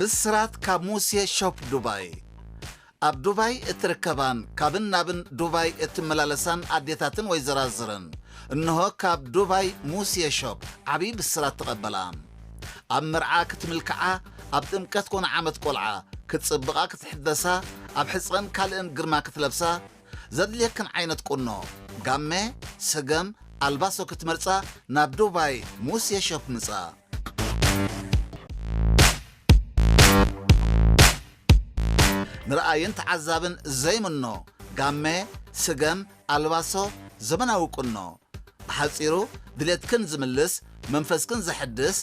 ብስራት ካብ ሙሴ ሾፕ ዱባይ ኣብ ዱባይ እትርከባን ካብን ናብን ዱባይ እትመላለሳን ኣዴታትን ወይ ዘራዝረን እንሆ ካብ ዱባይ ሙሴ ሾፕ ዓብዪ ብስራት ተቐበላ ኣብ መርዓ ክትምልክዓ ኣብ ጥምቀት ኮነ ዓመት ቆልዓ ክትጽብቓ ክትሕደሳ ኣብ ሕጸን ካልእን ግርማ ክትለብሳ ዘድልየክን ዓይነት ቁኖ ጋመ ሰገም ኣልባሶ ክትመርጻ ናብ ዱባይ ሙሴ ሾፕ ምጻ። ንርኣይን ተዓዛብን ዘይምኖ ጋመ ስገም ኣልባሶ ዘመናዊ ቁኖ። ብሓጺሩ ድሌትክን ዝምልስ መንፈስክን ዘሐድስ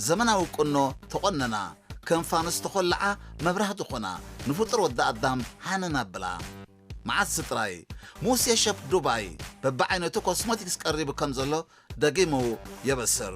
ዘመናዊ ቁኖ ተቖነና፣ ከም ፋኑስ ተኾልዓ መብራህቲ ኾና ንፍጡር ወዲ ኣዳም ሃነን ኣብላ። መዓስ ጥራይ፣ ሙሴ ሸፍ ዱባይ በብዓይነቱ ኮስሞቲክስ ቀሪቡ ከም ዘሎ ደጊሙ የበስር።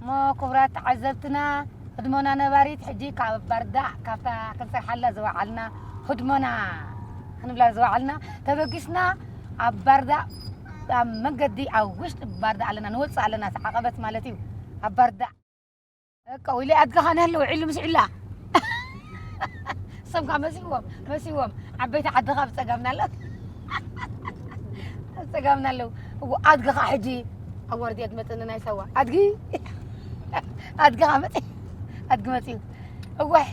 እሞ ኩቡራት ተዓዘብትና ህድሞና ነባሪት ሕጂ ካብ ባርዳዕ ካብታ ክንሰርሓላ ዝወዓልና ህድሞና ክንብላ ዝወዓልና ተበጊስና ኣብ ባርዳዕ ኣብ መንገዲ ኣብ ውሽጢ ባርዳዕ ኣለና ንወጽእ ኣለና ዓቐበት ማለት እዩ ኣብ ባርዳዕ እቃ ወይለ ኣድጋኻ ንህለ ውዒሉ ምስ ዒላ ሰምካ መሲዎም መሲዎም ዓበይቲ ዓድኻ ብፀጋምና ኣሎ ብፀጋምና ኣለዉ እዎ ኣድጋኻ ሕጂ ኣዋርድ እያ ትመፅእ ንናይ ሳዋ ኣድጊ ኣድጋኻ መፅ ኣድጊ መፅዩ እወሕ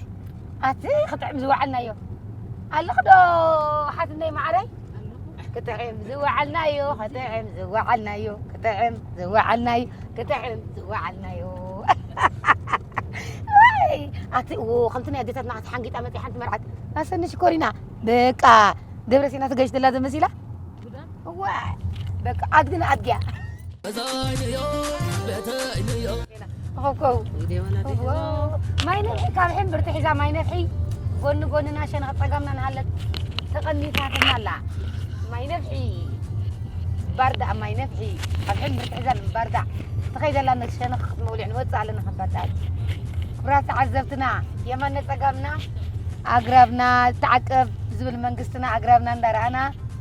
ኣቲ ክጥዕም ዝወዓልናዮ ኣለኽ ዶ ሓትነይ ማዕረይ ክጥዕም ዝወዓልናዮ ክጥዕም ዝወዓልናዮ ክጥዕም ዝወዓልናዮ ክጥዕም ዝወዓልናዮ ኣቲ ከምቲ ናይ ኣዴታትና ኣቲ ሓንጊጣ መፂ ሓንቲ መርዓት ኣሰኒ ሽኮሪና በቃ ደብረ ሲና ትገሽትላ ዘመሲላ ዋ በቃ ኣድግን ኣድግያ ማይ ነፍሒ ካብ ሕምብርቲ ሒዛ ማይ ነፍሒ ጎኒ ጎንና ሸነኽ ፀጋምና ንሃለት ተቐኒታትና ኣላ ማይ ነፍሒ ባርዳእ ማይ ነፍሒ ካብ ሕምብርቲ ሒዛ ባርዳእ ትኸይድ ኣላ ሸነኽ ክትመውልዕ ንወፅእ ኣለና ካብ ባርዳእ ክብራት ተዓዘብትና የማነ ፀጋምና ኣግራብና ተዓቀብ ዝብል መንግስትና ኣግራብና እንዳረኣና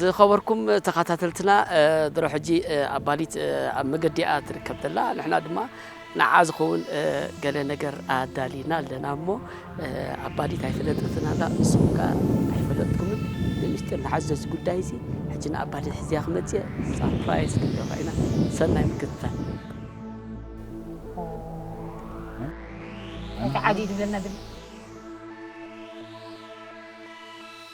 ዝኸበርኩም ተኻታተልትና ድሮ ሕጂ ኣባሊት ኣብ መገዲ እያ ትርከብ ዘላ ንሕና ድማ ንዓ ዝኸውን ገለ ነገር ኣዳሊና ኣለና እሞ ኣባሊት ኣይፈለጠትን ኣላ ንስኹም ከ ኣይፈለጥኩምን ብምስጢር ንሓዞ እዚ ጉዳይ እዚ ሕጂ ንኣባሊት ሕዚያ ክመፅየ ሳፕራይዝ ክንገብራ ኢና ሰናይ ምክትታል እቲ ዓዲ ዝብለና ድምፂ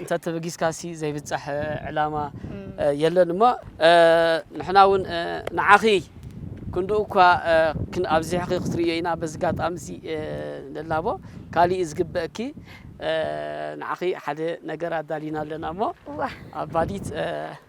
እንተ ተበጊስካሲ ዘይብጻሕ ዕላማ የለን እሞ ንሕና ውን ንዓኺ ክንድኡ እኳ ኣብዚሕኺ ክትርእዮ ኢና በዚ ጋጣሚ እዚ ንላቦ ካሊእ ዝግበእኪ ንዓኺ ሓደ ነገር ኣዳሊና ኣለና እሞ ኣባዲት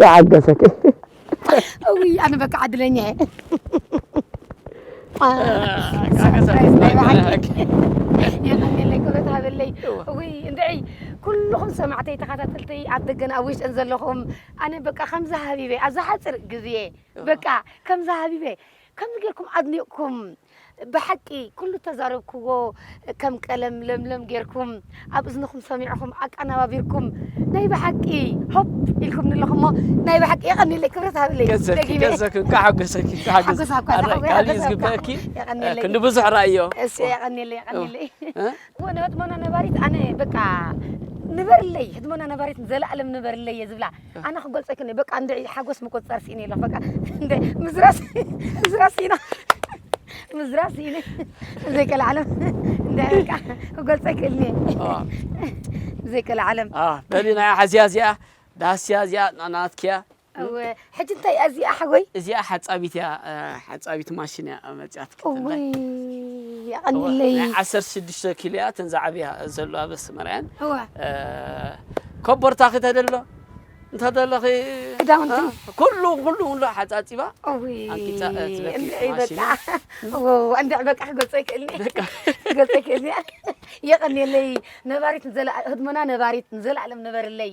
ተዓገሰኪ ውይ ኣነ በቃ ዕድለኛ እየ ሰርፕራይዝ ናይ በዓልኪ የቐንየለይ ክብረት ሃበለይ ውይ እንድዒ ኩልኹም ሰማዕተይ ተኸታተልተይ ኣብ ደገን ኣብ ውሽጥን ዘለኹም ኣነ በቃ ከምዚ ሃቢበ ኣብዛ ሓፂር ግዜ በቃ ከምዚ ሃቢበ ከምዚ ጌርኩም ኣድኒቕኩም ብሓቂ ኩሉ እተዛረብክዎ ከም ቀለም ለምለም ጌርኩም ኣብ እዝንኹም ሰሚዕኹም ኣቀናባቢርኩም ናይ ብሓቂ ሆፕ ኢልኩም ንለኹሞ ናይ ብሓቂ የቐኒለይ ክብረት ሃብለይ ገዘኪ ገዘኪ እንኳዕ ሓጎሰኪ እንኳዕ ሓጎሰኪ ሓጎሳ እኳ ኣረ ተሓጎ- ካልእ ሓጎሳ ዝግበአኪ እኳ የቐኒለይ። ክንዲ ብዙሕ ራእዮ እሺ የቐኒለይ የቐኒለይ እ? ወነ ህድሞና ነባሪት ኣነ በቃ ንበርለይ ህድሞና ነባሪት ዘለኣለም ንበርለይ እየ ዝብላ ኣነ ክገልጾ ኣይክእልን'የ በቃ እንድዒ ሓጎስ ምቁጽጻር ስኢነ ኣለኹ በቃ እንድዒ ምዝራብ ምዝራብ ስኢነ ምዝራብ ስኢነ ዘይቀልዓለም እንድዒ በቃ ክገልጾ ኣይክእልን'የ ዘይቀልዓለም በሊ ናይ ሓዝያ እዚኣ ዳስያ እዚኣ ናትኪያ ሕጂ እንታይ እያ እዚኣ ሓጎይ እዚኣ ሓጻቢት እያ ሓጻቢት ማሽን እያ መጽያት ናይ ዓሰርተ ሽዱሽተ ኪሎ እያ እተን ዝዓብያ ዘለዋ በስመርያን ኮቦርታ ክተደሎ እንተደለኺ ክዳውንቲ ኩሉ ኩሉ ኩሉ ሓፃፂባ ኣንቂፃ እንድዕ በቃ ክገልፀ ይክእልኒ ክገልፀ ይክእልኒ የቐኒየለይ ነባሪት ንዘላ ህድሞና ነባሪት ንዘለኣለም ንበርለይ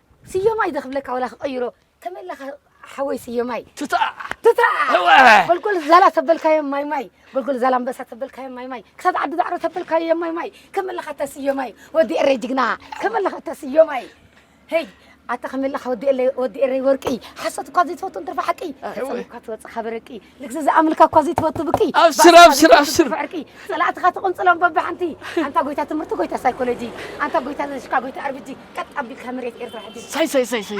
ስዮማይ ዶ ክብለካ ወላ ክቐይሮ ተመለኻ ሓወይ ስዮማይ ትታ ትታ ጎልጎል ዛላ ተበልካዮም ማይ ማይ ጎልጎል ዛላ ኣንበሳ ተበልካዮም ማይ ማይ ክሳብ ዓዲ ዳዕሮ ተበልካዮም ማይ ማይ ከመለኻ እታ ስዮማይ ወዲ ኤረይ ጅግና ከመለኻ እታ ስዮማይ ሄይ ኣታ ከመለኻ ወዲ ኤረይ ወርቂ ሓሶት እኳ ዘይትፈቱ እንትርፋ ሓቂ ተፀሚቕካ ትወፅእ ካበ ረቂ ልግሲ ዝኣምልካ እኳ ዘይትፈቱ ብኪ ኣብስር ኣብስር ኣብስር ብዕርቂ ፀላእትኻ ትቕንፅሎም በብሓንቲ ኣንታ ጎይታ ትምህርቲ ጎይታ ሳይኮሎጂ ኣንታ ጎይታ ዘሽካ ጎይታ ኣርብጂ ቀጥ ኣቢልካ መሬት ኤርትራ ሕጂ ሳይ ሳይ ሳይ ሳይ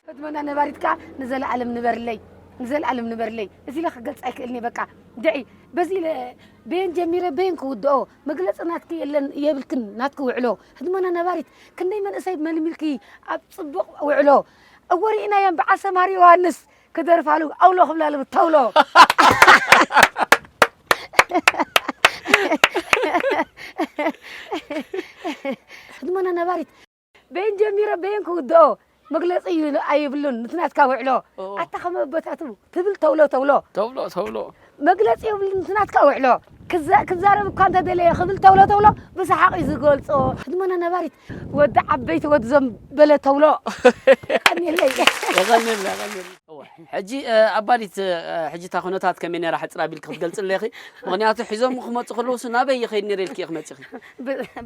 ፈትመና ነባሪትካ ንዘለኣለም ንበርለይ ንዘለኣለም ንበርለይ እዚ ኢለ ክገልፅ ኣይክእልኒ በቃ ድዒ በዚ በየን ጀሚረ በየን ክውድኦ መግለጺ ናትኪ የለን የብልክን ናትኪ ውዕሎ ህድሞና ነባሪት ክንደይ መንእሰይ መልሚልኪ ኣብ ጽቡቅ ውዕሎ እወ ሪኢናየን በዓል ሰምሃር ዮሃንስ ክደርፋሉ ኣውሎ ክብላሉ ብተውሎ ህድሞና ነባሪት በየን ጀሚረ በየን ክውድኦ መግለፂ ኣይብሉን ምስ ናትካ ውዕሎ ኣታ ከም ኣቦታቱ ትብል ተብሎ ተብሎ ተብሎ ተብሎ መግለፂ የብሉን ምስ ናትካ ውዕሎ ክዛረብ እኳ እንተደለየ ክብል ተብሎ ተብሎ ብሰሓቅ እዩ ዝገልፆ ህድሞና ነባሪት ወዲ ዓበይቲ ወዲ ዞም በለ ተብሎ የቀኒለይ ሕጂ ኣባዲት ሕጂ እታ ኩነታት ከመይ ነራ ሕፅር ኣቢልኪ ክትገልፅለይ ኢኺ ምክንያቱ ሒዞም ክመፁ ከለውሱ ናበይ ይኸይድ ነረ ኢልኪ ኢኺ መፂኺ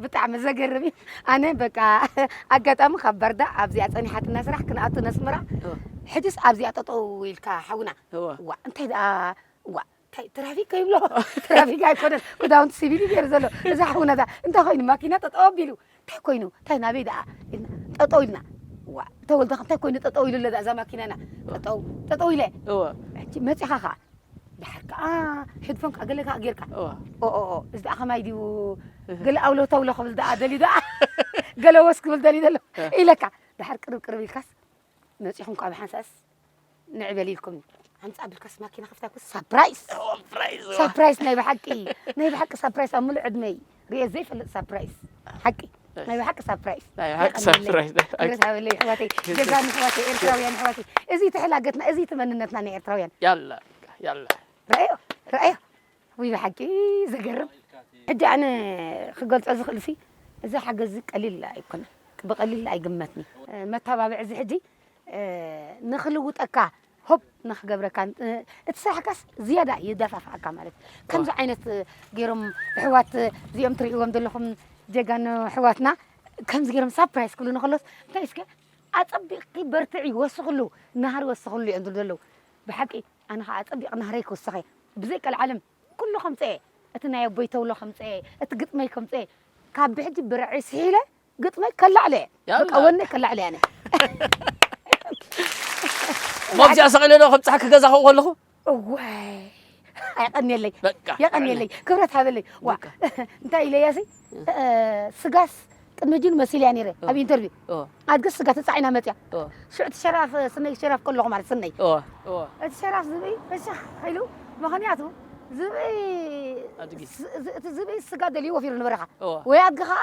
ብጣዕሚ ዘገርም እዩ ኣነ በቃ ኣጋጣሚ ካብ ባርዳ ኣብዚኣ ፀኒሓትና ስራሕ ክንኣቱ ነስመራ ሕጅስ ኣብዚኣ ጠጠው ኢልካ ሓውና ዋ እንታይ ደኣ ዋ እንታይ ትራፊክ ከይብሎ ትራፊክ ኣይኮነን ክዳውንቲ ሲቪል እዩ ገይሩ ዘሎ እዛ ሓውና እዛ እንታይ ኮይኑ ማኪና ጠጠው ኣቢሉ እንታይ ኮይኑ እንታይ ናበይ ደኣ ኢልና ጠጠው ኢልና ዋ ተወልደ እንታይ ኮይኑ ጠጠው ኢሉ ኣለዛ እዛ ማኪናና ጠጠው ጠጠው ኢለ ሕጂ መፂኻ ከዓ ደሓር ከኣ ሕድፎን ከኣ ገለ ከኣ ጌርካ ኦኦኦ እዚ ደኣ ከማይ ድዩ ገለ ኣውሎ ተውሎ ክብል ደኣ ደልዩ ደኣ ገለ ወስ ክብል ደልዩ ዘሎ ኢለካ ደሓር ቅርብ ቅርብ ኢልካስ መጺኹም ከኣ ብሓንሳእስ ንዕበል ኢልኩም ኣምጻ ብልካስ ማኪና ከፍታ ኩስ ሳፕራይዝ ሳፕራይዝ ናይ ብሓቂ ናይ ብሓቂ ሳፕራይዝ ኣብ ምሉእ ዕድመይ ሪኤ ዘይፈልጥ ሳፕራይዝ ሓቂ ናይ ብሓቂ ሳፕራይዝ ናይ ብሓቂ ሳፕራይዝ ሓበለይ ኣሕዋተይ ጀጋኑ ኣሕዋተይ ኤርትራውያን ኣሕዋተይ እዚ እቲ ሕላገትና እዚ እቲ መንነትና ናይ ኤርትራውያን ያላ ያላ ረኣዮ ረኣዮ ወይ ብሓቂ ዘገርም ሕጂ ኣነ ክገልጾ ዝኽእል ሲ እዚ ሓገዝ እዚ ቀሊል ኣይኮነን ብቐሊል ኣይግመትኒ መተባብዒ እዚ ሕጂ ንኽልውጠካ ሆፕ ንክገብረካ እቲ ስራሕካስ ዝያዳ የዳፋፍኣካ ማለት ከምዚ ዓይነት ገይሮም ኣሕዋት እዚኦም ትርእይዎም ዘለኹም ጀጋኑ ኣሕዋትና ከምዚ ገይሮም ሳፕራይዝ ክብሉ ንከሎስ እንታይ እስከ ኣጸቢቕኪ በርትዒ ወስኽሉ ናህሪ ወስኽሉ እዮም ዝብሉ ዘለዉ ብሓቂ ኣነ ከዓ ኣጸቢቕ ናህረይ ክውስኸ ብዘይ ቀልዓለም ኩሉ ከምፀኤ እቲ ናይ ኣቦይ ተብሎ ከምፀኤ እቲ ግጥመይ ከምፀኤ ካብ ብሕጂ ብርዒ ስሒለ ግጥመይ ከላዕለ በቃ ወነይ ከላዕለ ኣነ ሞብዚኣ ሰቂለ ዶ ከብፅሓ ክገዛ ከኡ ከለኹ እዋይ ኣይቀኒየለይ የቀኒየለይ ክብረት ሃበለይ ዋ እንታይ ኢለያሲ ስጋስ ቅድሚ ጅን መሲልያ ነይረ ኣብ ኢንተርቪው ኣድግስ ስጋ ተፃዒና መፅያ ሽዑ እቲ ሸራፍ ስነይ ሸራፍ ከለኹ ማለት ስነይ እቲ ሸራፍ ዝብኢ በሻኽ ኢሉ ምክንያቱ ዝብኢ እቲ ዝብኢ ስጋ ደልዩ ወፊሩ ንበረኻ ወይ ኣድጊ ከዓ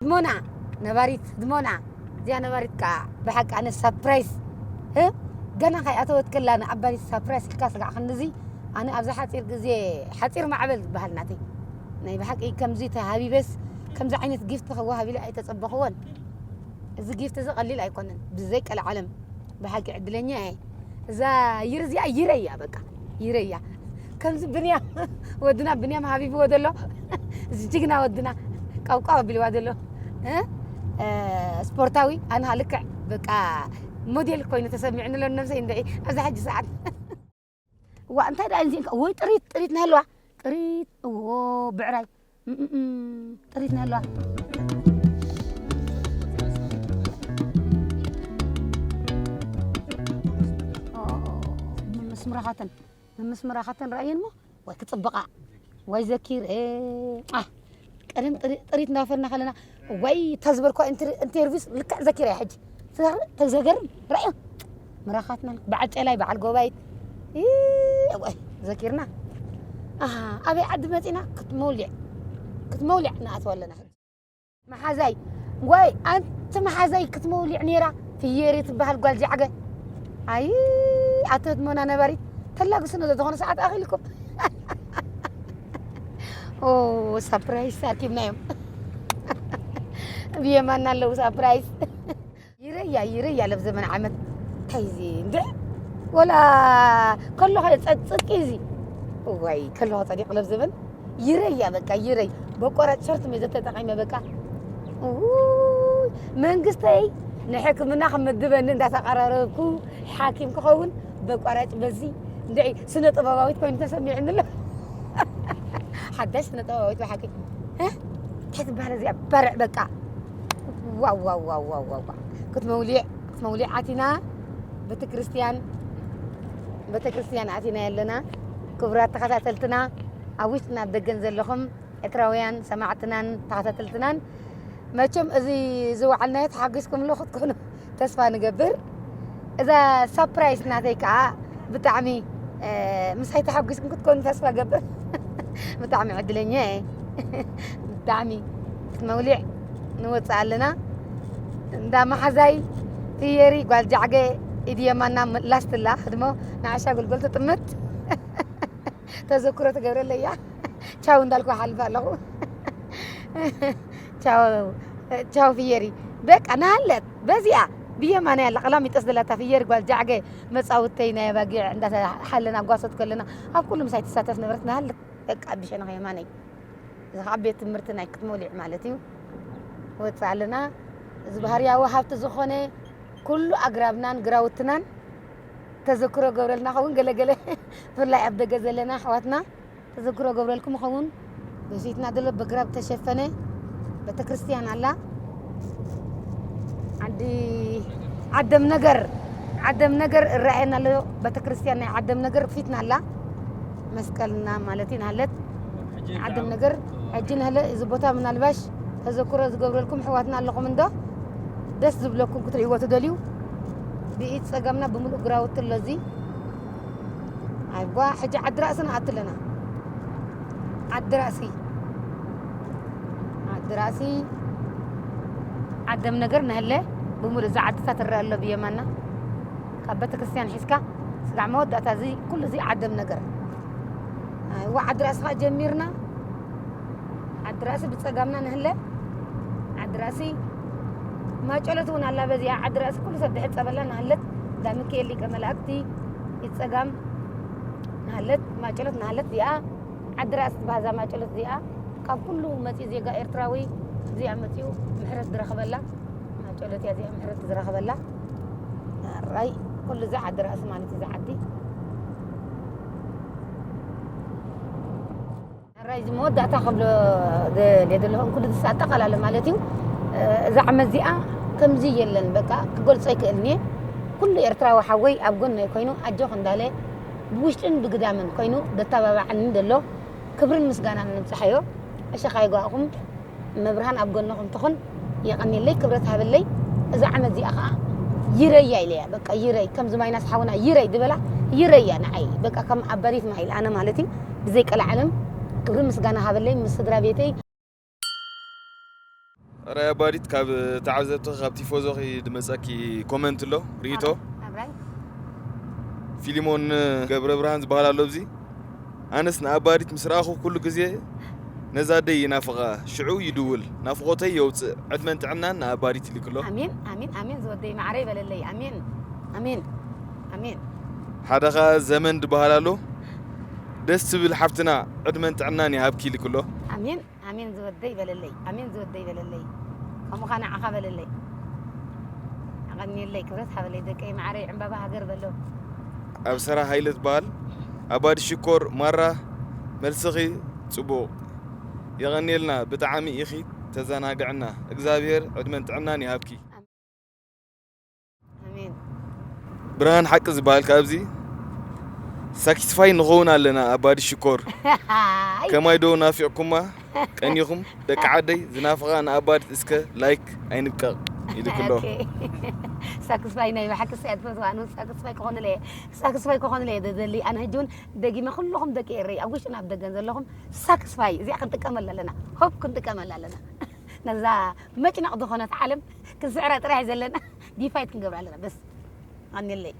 ህድሞና ነባሪት ህድሞና እዚኣ ነባሪት ከዓ ብሓቂ ኣነ ሳፕራይስ ገና ከይኣተወት ከላ ንኣባኒ ሳፕራይስ ኢልካ ስጋዕ ክንዚ ኣነ ኣብዚ ሓፂር ግዜ ሓፂር ማዕበል ዝበሃል ናተይ ናይ ብሓቂ ከምዚ ተሃቢበስ ከምዚ ዓይነት ጊፍቲ ክወሃብ ኢለ ኣይተፀበኽዎን እዚ ጊፍቲ እዚ ቀሊል ኣይኮነን ብዘይ ቀልዓለም ብሓቂ ዕድለኛ እየ እዛ ይር እዚኣ ይረ እያ በቃ ይረ እያ ከምዚ ብንያም ወድና ብንያም ሃቢብዎ ዘሎ እዚ ጅግና ወድና ቃብቃብ ኣቢልዋ ዘሎ ስፖርታዊ ኣንሃ ልክዕ በቃ ሞዴል ኮይኑ ተሰሚዕኒ ኣሎ ነብሰይ እንድዒ ኣብዛ ሕጂ ሰዓት ዋእ እንታይ ደኣ ኢንዚእንካ ወይ ጥሪት ጥሪት ናይ ኣለዋ ጥሪት እዎ ብዕራይ ጥሪት ናይ ኣለዋ ምምስምራኻተን ምምስምራኻተን ረኣየን እሞ ወይ ክፅብቓ ወይ ዘኪር ቀደም ጥሪ- ጥሪት እናፈርና ከለና እዋይ እታ ዝበልኳ ኢንትር- ኢንተርቪውስ ልክዕ ዘኪረያ ሕጂ ትዛረብ እንታይ ዘገርም ራእዮ ምራኻትና በዓል ጨላይ በዓል ጎባይት ኢ፣ እዋይ ዘኪርና ኣሃ ኣበይ ዓዲ መፂና ክትመውሊዕ ክትመውሊዕ ንኣትዋ ኣለና ሕጂ መሓዛይ ወይ ኣንቲ መሓዛይ ክትመውሊዕ ነይራ ፍየሪ ትበሃል ጓል ጃዕገ ኣይ ኣቶ ህድሞና ነባሪት ተላግስኖ ዘተኾነ ሰዓት ኣኺልኩም ኦ ሳፕራይዝ ኣኪብናዮም ኣብ የማና ኣለዉ ሳፕራይዝ ይረያ ይረያ ለብ ዘመን ዓመት እንታይ እዚ እንደ ወላ ከለኸ ጸጽቂ እዚ ወይ ከለኸ ጸዲቕ ለብ ዘመን ይረያ በቃ ይረይ በቆራጭ ሸርት ሜዘ ተጠቂመ በቃ መንግስተይ ንሕክምና ክምድበኒ እንዳተቀራረብኩ ሓኪም ክኸውን በቋራጭ በዚ ስነ ጥበባዊት ኮይኑ ተሰሚዕኒ ኣሎ ሓዳሽ ስነ ጥበባዊት ብሓቂ እንታይ ትበሃል እዚኣ በርዕ በቃ ዋዋዋዋዋ ክትመውሊዕ ክትመውሊዕ ኣቲና ቤተ ክርስቲያን ቤተ ክርስቲያን ኣቲና ኣለና ክቡራት ተኸታተልትና ኣብ ውሽጥና ኣብ ደገን ዘለኹም ኤርትራውያን ሰማዕትናን ተኸታተልትናን መቸም እዚ ዝወዓልናዮ ተሓጒስኩም ሎ ክትኮኑ ተስፋ ንገብር እዛ ሳፕራይስ ናተይ ከዓ ብጣዕሚ ምሳይ ተሓጒስኩም ክትኮኑ ተስፋ ገብር ብጣዕሚ ዕድለኛ እየ ብጣዕሚ መውሊዕ ንወፅእ ኣለና እንዳ መሓዛይ ትየሪ ጓል ጃዕገ ኢድ የማና ላስትላ ህድሞ ንዓሻ ጉልጎል ትጥምት ተዘክሮ ትገብረለያ ቻው እንዳልኩ ሓልፍ ኣለኹ ቻው ፍየሪ በቃ ናሃለት በዚኣ ብየማን ያላ ቀላሚጦስ ዘለታ ፍየሪ ጓል ጃዕገ መፃውተይ ናይ ኣባጊዕ እንዳሓለና ጓሶት ከለና ኣብ ኩሉ ምሳይ ትሳተፍ ነበረት ናሃለት በቃ ብሸነኸ የማነይ እዚ ከዓ ቤት ትምህርቲ ናይ ክትሞሊዕ ማለት እዩ ወፅእ ኣለና እዚ ባህርያዊ ሃብቲ ዝኾነ ኩሉ ኣግራብናን ግራውትናን ተዘክሮ ገብረልና ከውን ገለገለ ብፍላይ ኣብ ደገ ዘለና ኣሕዋትና ተዘክሮ እገብረልኩም እኸውን በፊትና ዘሎ በግራብ ዝተሸፈነ ቤተክርስትያን ኣላ ዓዲ ዓደም ነገር ዓደም ነገር እረኣየና ኣሎ ቤተክርስትያን ናይ ዓደም ነገር ፊትና ኣላ መስቀልና ማለት ናለት ዓደም ነገር ሕጂ ንህለ እዚ ቦታ ምናልባሽ ተዘክሮ ዝገብረልኩም ሕዋትና ኣለኹም እንዶ ደስ ዝብለኩም ክትርእይዎ ትደልዩ ብኢድ ፀጋምና ብምሉእ ግራውቲ ኣሎ እዚ ኣይዋ ሕጂ ዓዲ ራእሲ ንኣቱ ኣለና ዓዲ ራእሲ ዓዲ ራእሲ ዓደም ነገር ነህለ ብምሉእ እዚ ዓድታ ትረአ ኣሎ ብየማና ካብ ቤተ ክርስቲያን ሒዝካ ስጋዕ መወዳእታ እዚ ኩሉ እዚ ዓደም ነገር ኣይዋ ዓዲ ራእሲ ከዓ ጀሚርና ዓዲ ራእሲ ብጸጋምና ንህለ ዓዲ ራእሲ ማጨሎት እውን ኣላ በዚኣ ዓዲ ራእሲ ኩሉ ሰብ ድሕር ጸበላ ንሃለት እንዳ ሚካኤል ሊቀ መላእክቲ ይጸጋም ንሃለት ማጨሎት ንሃለት እዚኣ ዓዲ ራእሲ ትባሃዛ ማጨሎት እዚኣ ካብ ኩሉ መጺኡ ዜጋ ኤርትራዊ እዚኣ መጺኡ ምሕረት ዝረኽበላ ማጨሎት እያ እዚኣ ምሕረት ዝረኽበላ ራይ ኩሉ እዚ ዓዲ ራእሲ ማለት እዚ ዓዲ ራይዚ መወዳእታ ክብሎ ደልየ ዘለኹ ኩሉ ዝስ ኣጠቓላለ ማለት እዩ እዛ ዓመት እዚኣ ከምዚ የለን በቃ ክገልጾ ይክእልን እየ ኩሉ ኤርትራዊ ሓወይ ኣብ ጎነይ ኮይኑ ኣጆኽ እንዳለ ብውሽጥን ብግዳምን ኮይኑ ዘተባባዓኒ ደሎ ክብርን ምስጋናን ንብጽሓዮ ዕሸኻ ይጓእኹም እመብርሃን ኣብ ጎንኹም ትኹን። የቐኔለይ ክብረት ሃበለይ እዛ ዓመት እዚኣ ከዓ ይረያ ኢለያ በቃ ይረይ ከምዚ ማይናስ ሓውና ይረይ ዝበላ ይረያ ንዓይ በቃ ከም ኣበሪት ማይል ኣነ ማለት እዩ ብዘይ ቀላዓለም ክብሪ ምስጋና ሃበለይ ምስ ስድራ ቤተይ ራይ ኣባዲት ካብ ተዓዘብቲ ካብ ቲፎዞኺ ድመፀኪ ኮመንት ኣሎ ርኢቶ ፊሊሞን ገብረ ብርሃን ዝበሃል ኣሎ እዚ ኣነስ ንኣባዲት ምስ ረኣኹ ኩሉ ግዜ ነዛ ኣደይ ይናፍቃ ሽዑ ይድውል ናፍቆተይ የውጽእ ዕድመን ጥዕናን ንኣባዲት ይልክሎ። ኣሜን ኣሜን ኣሜን ዝወደይ ማዓረይ በለለይ ኣሜን ኣሜን ኣሜን። ሓደ ከኣ ዘመን ድበሃል ኣሎ ደስ ትብል ሓፍትና ዕድመን ጥዕናን ይሃብኪ ይልክሎ። ኣሜን። ኣሜን ዝወደይ በለለይ ኣሜን ዝወደይ በለለይ ከምኡኻ ንዓኻ በለለይ ኣቐንየለይ ክብረት ሃበለይ ደቀይ መዓረይ ዕምባባ ሃገር በሎ ኣብሰራ ሃይለ ትበሃል ኣባዲ ሽኮር ማራ መልስኺ ጽቡቕ የቐንየልና ብጣዕሚ ኢኺ ተዘናግዕና እግዝኣብሄር ዕድመን ጥዕናን ይሃብኪ። ብርሃን ሓቂ ዝበሃል ካብ እዚ ሳክስፋይ ንኸውን ኣለና ኣባዲ ሽኮር ከማይ ዶ ናፊዕኩማ ቀኒኹም ደቂ ዓደይ ዝናፍቓ ንኣባዲ እስከ ላይክ ኣይንብቀቕ ኢልክሎ ሳክስፋይ ናይ ብሓቂ ስያ ትፈትዋ ኣነ ሳክስፋይ ክኾንለ እየ ሳክስፋይ ክኾንለ እየ ዘዘሊ ኣነ ሕጂ እውን ደጊመ ኩልኹም ደቂ ኤረይ ኣብ ውሽጥን ኣብ ደገን ዘለኹም ሳክስፋይ እዚኣ ክንጥቀመላ ኣለና ሆፕ ክንጥቀመላ ኣለና ነዛ መጭነቕ ዝኾነት ዓለም ክንስዕራ ጥራይ ዘለና ዲፋይት ክንገብራ ኣለና በስ ኣንለይ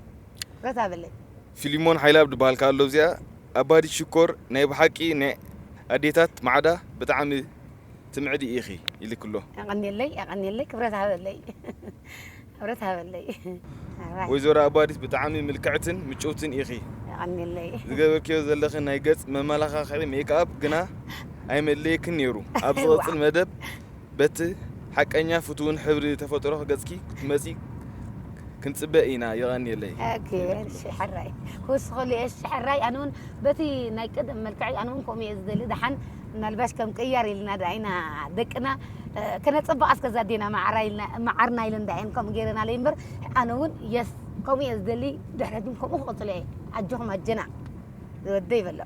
ረታ በለይ ፊሊሞን ሓይላብ ድበሃል ከኣ ኣሎ እዚኣ ኣባዲት ሽኮር ናይ ብሓቂ ናይ ኣዴታት ማዕዳ ብጣዕሚ ትምዕዲ ኢኺ ኢልኪ ኣሎ። የቐንየለይ የቐንየለይ ክብረት ሃበለይ። ክብረት ሃበለይ ኣሕዋይ። ወይዘሮ ኣባዲት ብጣዕሚ ምልክዕትን ምጭውትን ኢኺ። የቐንየለይ። ዝገበርክዮ ዘለኺ ናይ ገጽ መመላኻኽዒ ሜክኣፕ ግና ኣይመድለየክን ኔሩ። ኣብ ዝቕጽል መደብ በቲ ሓቀኛ ፍቱውን ሕብሪ ተፈጥሮ ገጽኪ ክትመጺ ክንጽበ ኢና። የቐንየለይ። ኦኬ እሺ ሕራይ ክውስኸሉ እየ እሺ ሕራይ ኣነ እውን በቲ ናይ ቀደም መልክዐይ ኣነ እውን ከምኡ እየ ዝደሊ ደሓን ምናልባሽ ከም ቅያር ኢልና ድኣ ኢና ደቅና ከነጽብቃ እስከ ዛዴና መዓራ ኢልና መዓርና ኢለን ድኣ እየን ከምኡ ገይረናለይ እምበር ኣነ እውን የስ ከምኡ እየ ዝደሊ ድሕረት እውን ከምኡ ክቕጽሎ እየ ኣጆኹም ኣጀና ዝወደይ በሎ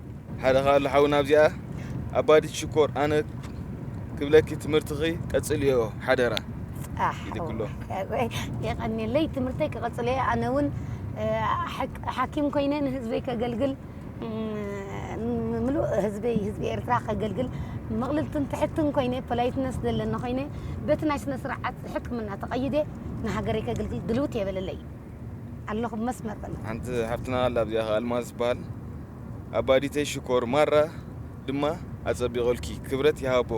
ሓደ ካሉ ሓውና ኣብዚኣ ኣባዲት ሽኮር ኣነ ክብለኪ ትምህርትኺ ቀጽልዮ ሓደራ ይልክሎ የቀኒለይ ትምህርተይ ክቐጽል እየ ኣነ እውን ሓኪም ኮይነ ንህዝበይ ከገልግል ምሉእ ህዝበይ ህዝቢ ኤርትራ ከገልግል ምቕልልትን ትሕትን ኮይነ ፖላይትነስ ዘለኒ ኮይነ በቲ ናይ ስነ ስርዓት ሕክምና ተቐይደ ንሃገረይ ከገልግል ድልውት የበለለይ ኣለኹ መስመር በለ ሓንቲ ሓፍትና ኣላ ኣብዚኣ ከ ኣልማዝ ትበሃል ኣባዲተይ ሽኮር ማራ ድማ ኣጸቢቐልኪ ክብረት ይሃቦ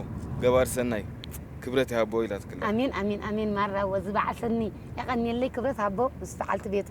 ገባሪ ሰናይ ክብረት ይሃቦ ኢላትክላ ኣሜን ኣሜን ኣሜን ማራ ወዚ በዓል ሰኒ የቐንየለይ ክብረት ሃቦ ምስ በዓልቲ ቤቱ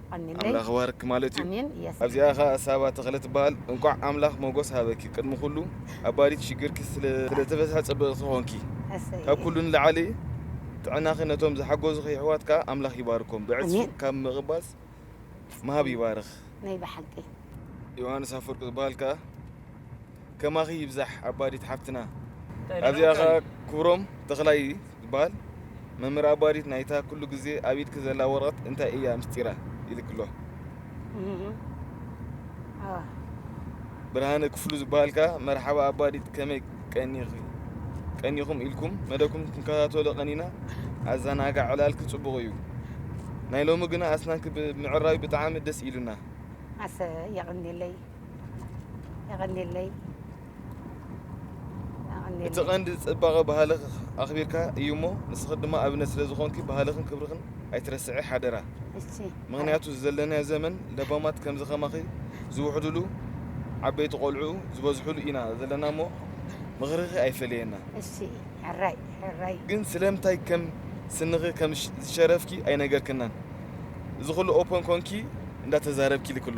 ኣምላኽ ይባርኪ ማለት እዩ ኣብዚኣ ከኣ ሳባ ተኽለ ትበሃል እንቋዕ ኣምላኽ ሞጎስ ሃበኪ ቅድሚ ኩሉ ኣብ ባሪት ሽግርኪ ስለ ተፈትሐ ጽብቕቲ ኮንኪ ካብ ኩሉ ንላዕሊ ጥዕናኺ ነቶም ዝሓጎዙኺ የሕዋት ከኣ ኣምላኽ ይባርኮም ብዕጽፊ ካብ ምቕባጽ ምሃብ ይባርኽ ናይ ብሓቂ ዮሃንስ ኣፍወርቂ ዝባሃል ከኣ ከማኺ ይብዛሕ ኣባዲት ሓፍትና። ኣብዚኣ ከኣ ክብሮም ተኽላይ ዝበሃል መምህር ኣባዲት ናይታ ኩሉ ግዜ ኣብ ኢድኪ ዘላ ወረቐት እንታይ እያ ምስጢራ ኢልክሎ። ብርሃነ ክፍሉ ዝበሃል ከኣ መርሓባ ኣባዲት ከመይ ቀኒኺ ቀኒኹም ኢልኩም መደብኩም ክንከታተሎ ቀኒና ኣዘናጋዕ ዕላልኪ ጽቡቕ እዩ። ናይ ሎሚ ግና ኣስናንኪ ብምዕራዩ ብጣዕሚ ደስ ኢሉና። ኣሰይ የቐንየለይ። የቐኔለይ እቲ የቐኔለይ ቀንዲ ፅባቐ ባህልኺ ኣኽቢርካ እዩ እሞ ንስኺ ድማ ኣብነት ስለ ዝኾንኪ ባህልኽን ክብርኽን ኣይትረስዒ ሓደራ እሺ ምኽንያቱ እዚ ዘለናዮ ዘመን ለባማት ከምዚ ከማኺ ዝውሕድሉ ዓበይቲ ቆልዑ ዝበዝሕሉ ኢና ዘለና እሞ ምኽርኺ ኣይፈለየና እሺ ሕራይ ሕራይ ግን ስለምንታይ ከም ስንኺ ከም ሽ- ዝሸረፍኪ ኣይነገርክናን እዚ ኹሉ ኦፐን ኮንኪ እንዳተዛረብኪ ልክሎ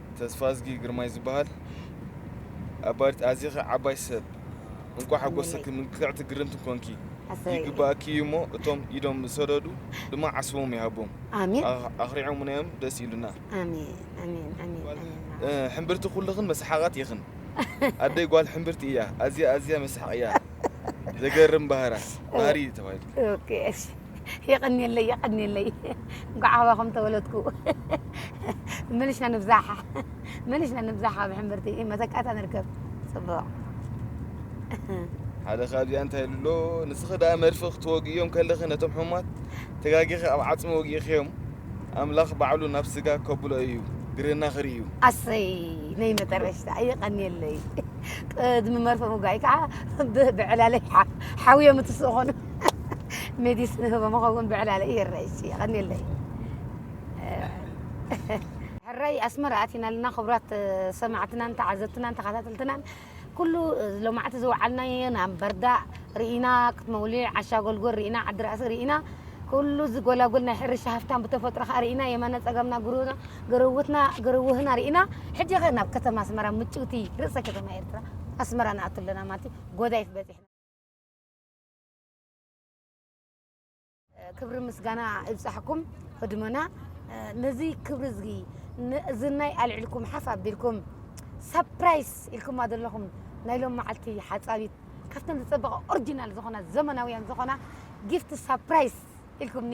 ተስፋዝጊ ግርማይ ዝበሃል ኣባዲት ኣዚኺ ዓባይ ሰብ እንቋዕ ሓጎሰኪ ምልክዕቲ ግርምቲ ኮንኪ ይግበኣኪ እዩ እሞ እቶም ኢዶም ዝሰደዱ ድማ ዓስቦም ይሃቦም ኣሜን ኣኽሪዖሙና እዮም ደስ ኢሉና ኣሜን ኣሜን ኣሜን ኣሜን ሕምብርቲ ኩልኽን መስሓቓት ኢኽን ኣደይ ጓል ሕምብርቲ እያ ኣዝያ ኣዝያ መስሓቕ እያ ዘገርም ባህራ ባህሪ ተባሂሉ ኦኬ እሺ የቐንየለይ የቐንየለይ እንኳዕ ኣባኹም ተወለድኩ ምልሻ ንብዛሕ ምልሻ ንብዛሕ ኣብ ሕምብርቲ መተካእታ ንርከብ ፅቡቕ ሓደ ካብዚኣ እንታይ ኢሉ ኣሎ ንስኺ ደኣ መድፊ ክትወግእዮም ከለኺ ነቶም ሕሙማት ተጋጊኺ ኣብ ዓፅሚ ወጊእኽዮም ኣምላኽ ባዕሉ ናብ ስጋ ከብሎ እዩ ግርህና ክርኢ እዩ ኣሰይ ናይ መጠረሽታ የቐንየለይ ቅድሚ መርፈ ምጓይ ከዓ ብዕላለይ ሓውዮም እትስእኾኑ መዲስ ንህቦ መኸውን ብዕላለ ይረይ የቐኒለይ ሕራይ ኣስመራ ኣቲና ኣለና ክብራት ሰማዕትናን ተዓዘብትናን ተኸታተልትናን ኩሉ ሎማዕቲ ዝወዓልናዮ ናምበርዳ ርኢና ክትመውሊዕ ዓሻ ጎልጎል ርኢና ዓዲ ራእሲ ርኢና ኩሉ እዚ ጎላጎል ናይ ሕርሻ ሃፍታን ብተፈጥሮ ከዓ ርኢና የማነ ፀገምና ጉሩና ግርውትና ግርውህና ርኢና ሕጂ ኸ ናብ ከተማ ኣስመራ ምጭውቲ ርእሰ ከተማ ኤርትራ ኣስመራ ንኣቱ ኣለና ማለት እዩ ጎዳይፍ በፂሕና ክብሪ ምስጋና ይብጻሕኩም ህድሞና ነዚ ክብሪ እዚ ንእዝናይ ኣልዕልኩም ሓፍ ኣቢልኩም ሳፕራይስ ኢልኩማ ዘለኹም ናይ ሎም መዓልቲ ሓጻቢት ካብተን ዝጸበቐ ኦሪጂናል ዝኾና ዘመናውያን ዝኾና ጊፍት ሳፕራይስ ኢልኩምኒ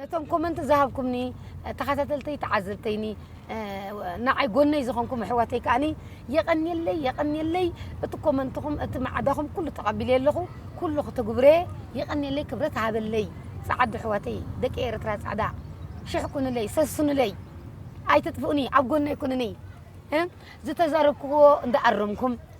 ነቶም ኮመንት ዝሃብኩምኒ ተኸታተልተይ ተዓዘብተይኒ ንዓይ ጎነይ ዝኾንኩም ኣሕዋተይ ከዓኒ የቐንየለይ የቐንየለይ እቲ ኮመንትኹም እቲ ማዕዳኹም ኩሉ ተቐቢለ ኣለኹ ኩሉ ክትጉብረ የቐንየለይ ክብረት ሃበለይ ፃዓዱ ኣሕዋተይ ደቂ ኤርትራ ፃዕዳ ሽሕ ኩንለይ ሰስኑለይ ኣይትጥፍኡኒ ኣብ ጎነይ ኩኑኒ ዝተዛረብክዎ እንዳኣረምኩም